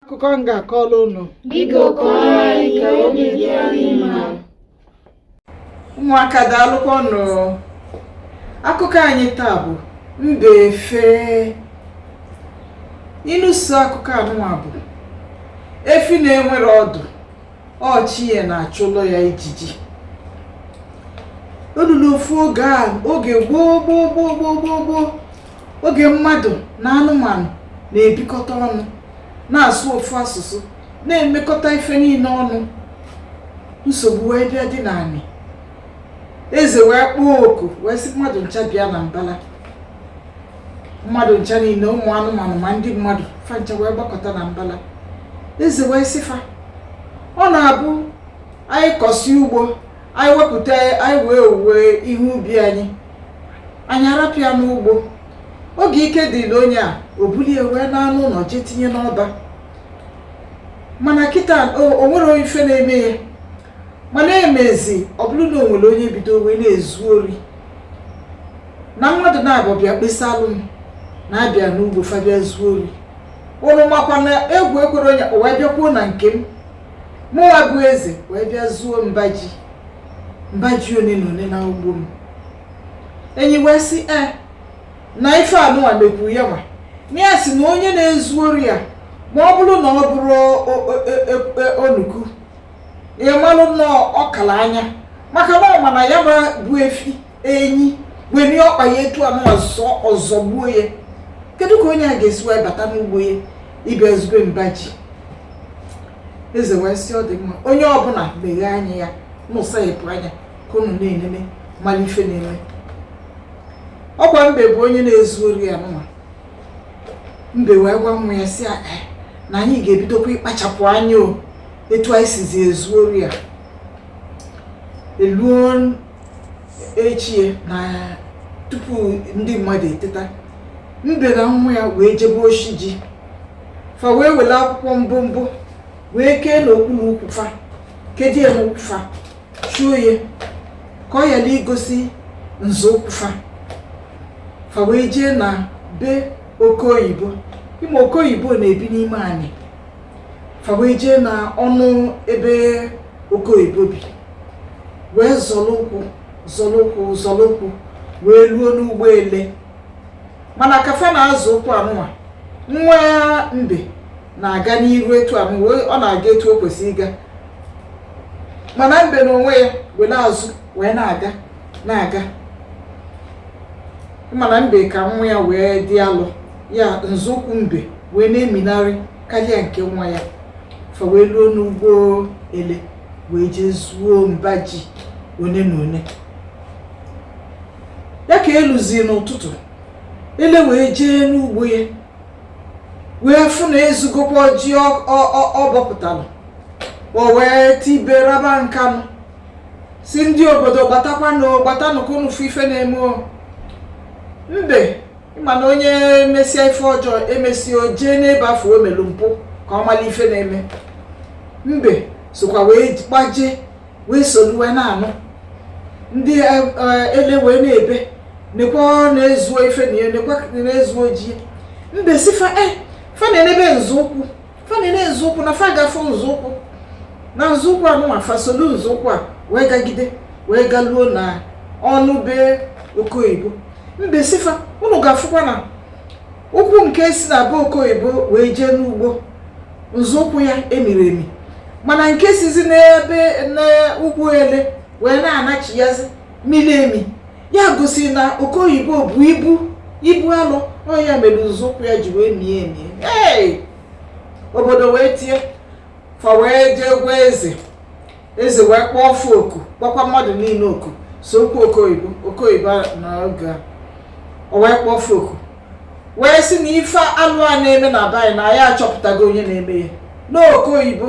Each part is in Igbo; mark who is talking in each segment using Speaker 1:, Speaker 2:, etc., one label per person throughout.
Speaker 1: akụkọ m ga-akọrọ unu Biko
Speaker 2: kọọrọ anyị ka obi dị anyị mma. ụmụaka
Speaker 1: daalụkwanụ akụkọ anyị taa bụ mbe efe ịnụso akụkọ anụnwa bụ efi na-enwerọ ọdụ ọ chi ya na-achụlụ ya ijiji o lulu ofu oge a oge gboo gboo gboo gboo gboo gboo oge mmadụ na anụmanụ na-ebikọta ọnụ na-asụ ofu asụsụ na-emekọta ife niine ọnụ nsogbu wee bịa dị n'anị eze wee kpọọ oku wee sị mmadụ ncha bịa na mbala mmadụ ncha niine ụmụ anụmanụ ma ndị mmadụ fa ncha wee gbakọta na mbala eze wee sị fa ọ na-abụ anyị kọsịa ugbo anyị wepụta anyị wee owuwe ihe ubi anyị anyị arapụ ya n'ugbo oge ike dịrị onye a o bulie wee naa n'ụnọ jee tinye n'ọba mana kịta o nwerọ ife na-eme ya mana emezi ọ bụrụ na o nwere onye bido wee na-ezu ori na mmadụ naabọ bịa kpesalụ m na abịa n'ugbo fa bịa zuo ori ụnụ makwa na egwu ekwerọ onye wee bịakwuo na nke m mụwa bụ eze wee bịa zuo mba ji mba ji one na one na ugbo m enyi wee sị e na ife anụwa mekwuru ya nwa na ya sị na onye na-ezu ori a ma ọ bụrụ na ọ bụrọ o- o- o- o- onuku ị malụ na ọ kala anya maka na ọ ma na ya bụ efi enyi were ọkpa ya etu anụ ọ zọgbuo ya kedu ka onye a ga-esi wee bata n'ugbo ya ịbịa zube mba ji eze wee sị ọ dị mma onye ọbụla meghee anya ya ụnụ sayepụ anya ka unu na-enene mara ife na-eme ọ kwa mbe bụ onye na-ezu ori anụnwa mbe wee gwa nwa ya sị eh, na anyị ga-ebidokwa ịkpachapụ anya o etu anyị sizi ezu ori a eluo echie na tupu ndị mmadụ eteta mbe na nwa ya wee jebe oshi ji fa wee were akwụkwọ mbụ mbụ wee kee n'okpuru ukwu fa kedo ya n'ụkwụ fa chuo ya ka ọ yala igosi nzọụkwụ fa fa wee jee na be oke oyibo ị ma oke oyibo na-ebi n'ime anị fa wee jee na ọnụ ebe oke oyibo bi wee zọlụ ụkwụ zọlụ ụkwụ zọlụ ụkwụ wee luo n'ugbo ele mana ka fa na-azọ ụkwụ anụwa nwa mbe na-aga n'iru etu anụ ọ na-aga etu o kwesịrị ịga mana mbe na onwe ya were azụ wee na-aga na-aga ịma na mbe ka nwa ya wee dị alụ ya nzọụkwụ mbe wee na-eminarị karịa nke nwa ya fa wee luo n'ugbo ele wee jee zuo mba ji one na one ya ka eluzie n'ụtụtụ ele wee jee n'ugbo ya wee fụ na ezugokwa ji ọ bọpụtalụ o wee tibe raba nkanụ sị ndị obodo gbatakwanụ gbatanụ ka unu fụ ife na-eme o mbe ịma na onye mesịa ife ọjọọ emesịa o jee n'ebe afụ o melu mpụ ka ọ malụ ife na-eme mbe sokwa wee gbaje wee solu wee na-anụ ndị e, e, ele wee na-ebe nekwa na-ezuo ife na ya nekwa na-ezuo ji mbe sị fa e fa nenebe nzọụkwụ fa nene nzọụkwụ na fa ga-afụ nzọụkwụ na nzọụkwụ anụnwa fa solu nzọụkwụ a wee gagide wee galuo na ọnụ be oke oyibo mbe sị fa unu ga-afụkwa na ụkwụ nke si na be oke oyibo wee jee n'ugbo nzọụkwụ ya emirọ emi mana nke sizi n'ebe n'ugbo ele wee na-anachiyazi miri emi ya gosi na oke oyibo bu ibu ibu alụ ọ ya mere nzọụkwụ ya ji wee mie emi ee obodo wee tie fa wee jee gwa eze eze wee kpọọ ofu oku kpọkwa mmadụ niile oku sokwu oke oyibo oke oyibo na oge a o wee kpọọ ofu oku wee sị na ife alụ a na-eme na be anyị na anyị achọpụtago onye na-eme ya n'oke oyibo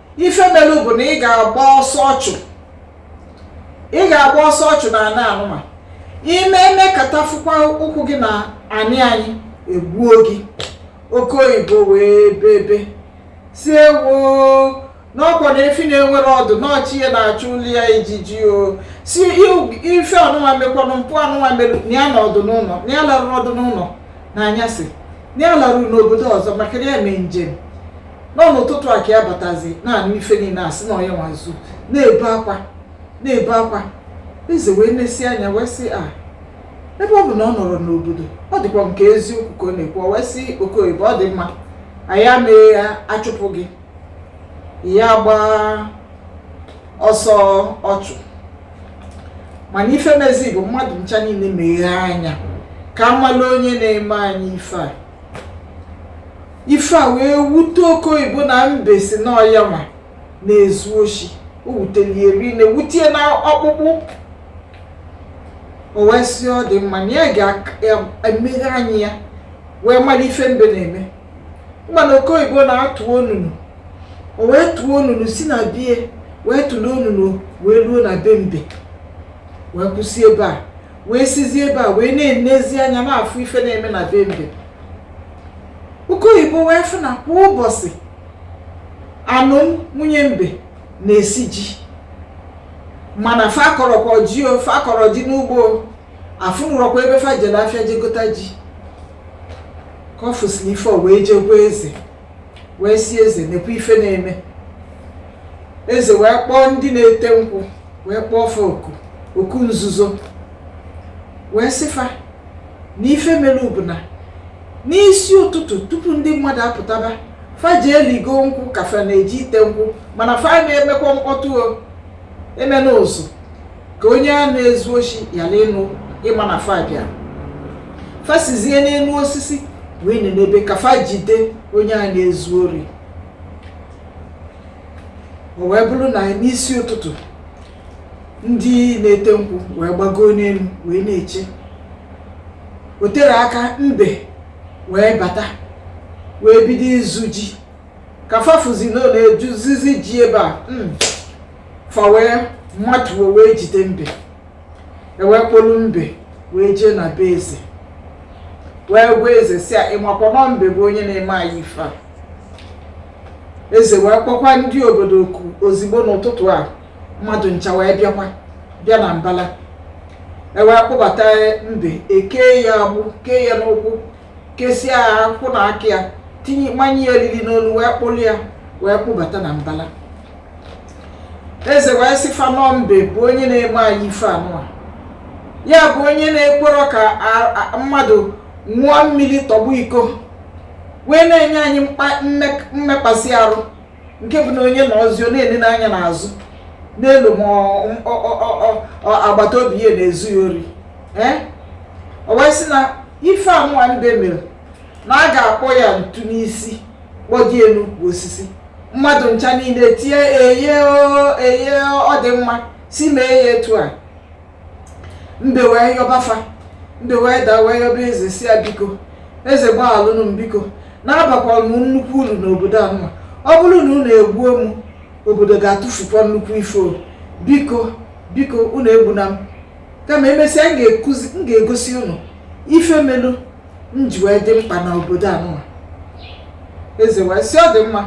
Speaker 1: ife melu bụ na ị ga-agba ọsọ ọchụ ị ga-agba ọsọ ọchụ na ana anụnwa ime emekata fụkwa ụkwụ gị na anị anyị egbuo gị oke oyibo wee bebe sị ewo n'ọkwa na efi na-enwerọ ọdụ na ọ chi ya na-achụlụ ya ijiji ọ sị ife anụnwa mekwanụ mpụ anụnwa mere na ya anọrọdụ n'ụnọ na ya alarụrọdụ n'ụnọ na anyasị na ya larụrụ n'obodo ọzọ maka na ya mee njem na ọ n'ụtụtụ a ka ya batazi na-anụ ife niile asị na ọ ya nwa zu na-ebe akwa na-ebe akwa eze wee nesi anya wee sị a ebe ọ bụ na ọ nọrọ n'obodo ọ dịkwa nke eziokwu ka ọ na-ekwu ọ wee sị oke oyibo ọ dị mma anyị amee ya achụpụ gị ya gbaa ọsọ ọchụ mana ife mezi bụ mmadụ ncha niile meghee anya ka amalụ onye na-eme anyị ife a ife a wee wute oke oyibo na mbe sị na ọ yanwa na-ezu oshi o wutelu ya rinne wute ya na ọkpụkpụ o wee sị ọ dị mma na ya ga-emeghe anya ya wee mara ife mbe na-eme mana oke oyibo na-atụ onunu o wee tụọ onunu si na be ya wee tụrụ onunu wee ruo na be mbe wee kwụsị ebe a wee sizie ebe a wee na-enezi anya na-afụ ife na-eme na be mbe oke oyibo wee fụ na kwa ụbọchị anụ nwunye mbe na-esi ji mana fa akọrọkwa ji o fa akọrọ ji n'ugbo a fụnụrọkwa ebe fa jere afịa je gota ji ka ọ fụsịrị ife wee je gwa eze wee sị eze nekwa ife na-eme eze wee kpọọ ndị na-ete nkwụ wee kpọọ fa oku oku nzuzo wee sị fa na ife mere bụ na n'isi ụtụtụ tupu ndị mmadụ apụtaba fa jee ligo nkwụ ka fa na-eje ite nkwụ mana fa na-emekwa mkpọtụ o emena ụzụ ka onye a na-ezu oshi yalụ ịma na fa bịa fa sizie n'elu osisi wee nenebe ka fa jide onye a na-ezu ori o wee bụrụ na n'isi ụtụtụ ndị na-ete nkwụ wee gbagoo n'elu wee na-eche o tere aka mbe wee bata wee bido izu ji ka fa fụzi na ọ na-ezuzizi ji ebe a hmm. fa wee matuo wee jide mbe e wee kpọlụ mbe wee jee na be eze wee gwa eze sị ya ịmakwa na ọ mbe bụ onye na-eme anyị ife a eze wee kpọkwa ndị obodo oku ozigbo n'ụtụtụ a mmadụ ncha wee bịakwa bịa na mbala e wee kpọbata mbe e kee ya agbụ kee ya n'ụkwụ kesịa ya ụkwụ na aka ya manye ya eriri n'olu wee kpụrụ ya wee kpụbata na mbala eze wee sị fa na ọ mbe bụ onye na-eme anyị ife anụwa ya bụ onye na-ekwerọ ka mmadụ ṅụọ mmiri tọgbọ iko wee na-enye anyị mmekpasị arụ nke bụ na onye nọzi ọ na-enene anya n'azụ na-elo ma agbata obi ya na-ezu ya ori ee o wee sị na ife anụwa mbe mere na a ga-akpọ ya ntu n'isi kpọdo ya n'elu osisi mmadụ ncha niile tie eye o eye o, ọ dị mma sị mee ya etu a mbe wee yọba fa mbe wee daa wee yọba eze sị ya biko eze gbaghalụnụ m biko na abakwara m nnukwu uru n'obodo anụwa ọ bụrụ na unu egbuo m obodo ga-atụfukwa nnukwu ife o biko biko unu egbuna m kama emesịa m ga-ekuzi m ga-egosi unu ife melu m ji wee dị mkpa na obodo anụwa eze wee sị ọ dị mma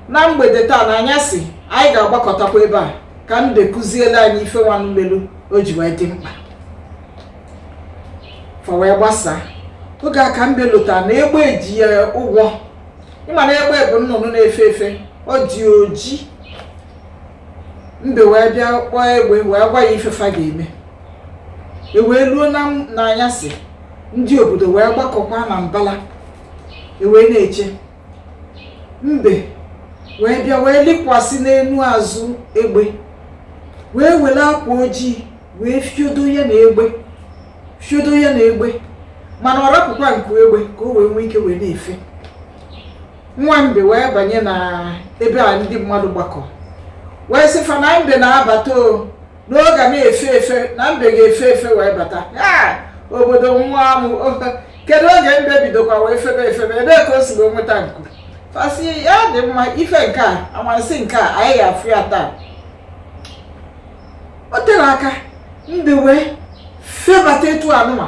Speaker 1: na mgbede taa na anyasị anyị ga-agbakọtakwa ebe a ka mbe kuziele anyị ife nwanụ melu o ji wee dị mkpa fa wee gbasaa oge a ka mbe lotara na egbe ji ya ụgwọ ị ma na egbe bụ nnụnụ na-efe efe ọ dị oji mbe wee bịa kpọọ egbe wee gwa ya ife fa ga-eme e wee luo n'anyasị ndị obodo wee gbakọkwa na mbala e wee na-eche mbe wee bịa wee lịkwasị n'elu azụ egbe wee were akwa ojii wee fiodo ya na egbe fiodo ya na egbe mana ọ rapụkwa nku egbe ka o wee nwee ike wee na-efe nwa mbe wee banye na ebe a ndị mmadụ gbakọ wee sị fa na mbe na-abata o n'ọ ga na-efe efe na mbe ga-efe efe wee bata obodo nwa amụ kedu oge mbe bidokwa wee febe efebe ebee ka o si wee nweta nku fa sị ya dị mma ife nke a amasị nke a anyị ga-afụ ya taa o terọ aka mbe wee febata etu anụwa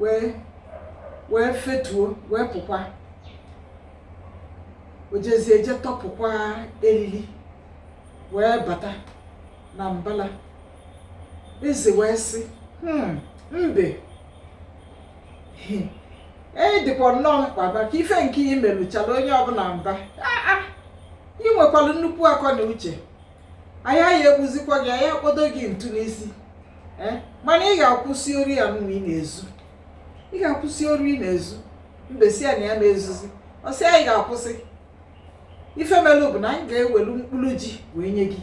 Speaker 1: wee wee fetuo wee pụkwa wee jezie je tọpụkwa elili wee bata na mbala eze wee sị "Hmm, mbe ị dịkwa nnọọ mkpa maka ife nke i meluchala onye ọbụla mba Ah, ah, ị nwekwara nnukwu akọ na uche anyị aya egbuzikwa gị anyị akpọdo gị ntu n'isi eh? mana ị ga-akwụsị ori anụwa ị na-ezu ị ga-akwụsị ori ị na-ezu mbe sị ya na ya na-ezuzi ọ sị anyị ga-akwụsị ife melụ bụ na anyị ga-ewelu mkpụrụ ji wee nye gị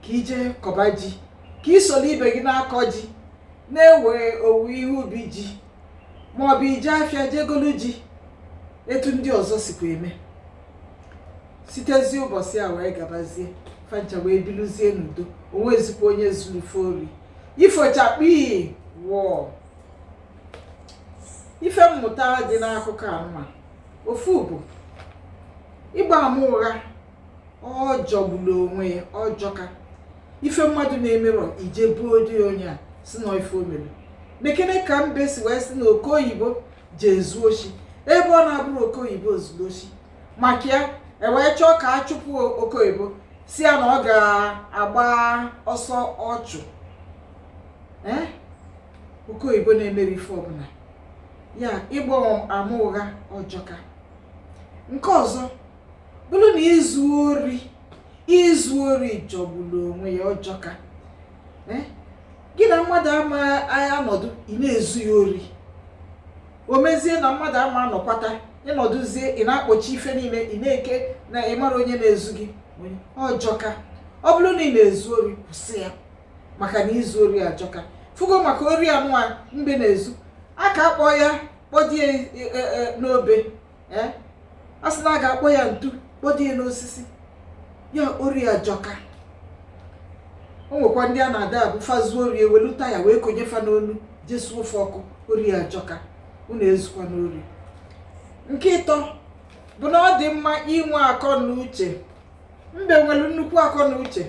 Speaker 1: ka i je kọba ji ka ị soro ibe gị na-akọ ji na-ewe owuwe ihe ubi ji maọbụ i je afịa je golu ji etu ndị ọzọ sikwa eme sitezi ụbọsị a wee gabazie fa ncha wee biluzie n'udo o nwezikwa onye zuru ife ori ifo chakpịị wọọ ife mmụta dị n'akụkọ anụwa ofu bụ ịgba ama ụgha ọ jọgburu onwe ya ọ jọka ife mmadụ na-emerọ i je buo di onye a sị na ife o melu nekene ka mbe si wee sị na oke oyibo je zuo oshi ebe ọ na-abụrọ oke oyibo zulu oshi maka ya ewee chọọ ka a chụpụ oke oyibo sị ya na ọ ga-agba ọsọ ọchụ eh? oke oyibo na-emerọ ife ọbụla ya ịgba ama ụgha ọ jọka nke ọzọ bụrụ na izu ori izu ori jọgburu onwe ya ọ jọka eh? gị na mmadụ ama anọdụ ị na-ezu ya ori o mezie na mmadụ ama anọkwata ị nọdụzie ị na-akpọchi ife niile ị na-eke na ị marọ onye na-ezu gị ọ jọka ọ bụrụ na ị na-ezu ori kwụsị ya maka na izu ori ajọka fugo maka ori anụwa mbe na-ezu a ga-akpọ ya kpọdo ya e, e, e, n'obe ee eh? a sị na a ga-akpọ ya ntu kpọdo ya n'osisi ya ori ajọka o nwekwa ndị a na-adị abụ fa zuo ori e welu taya wee konye fa n'onu je suo fa ọkụ ori ajọka unu ezukwana ori nke ịtọ bụ na ọ dị mma inwe akọ na uche mbe nwelu nnukwu akọ na uche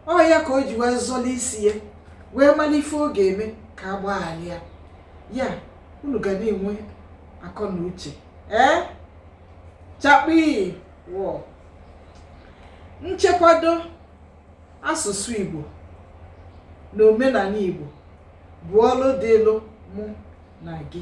Speaker 1: ọ ya ka o ji wee zọla isi ya wee mara ife ọ ga-eme ka a gbaghalụ ya ya unu ga na-enwe akọ na uche ee chakpii wọọ nchekwado asụsụ Igbo na omenani Igbo bụ ọlụ dịịlụ mụ na gị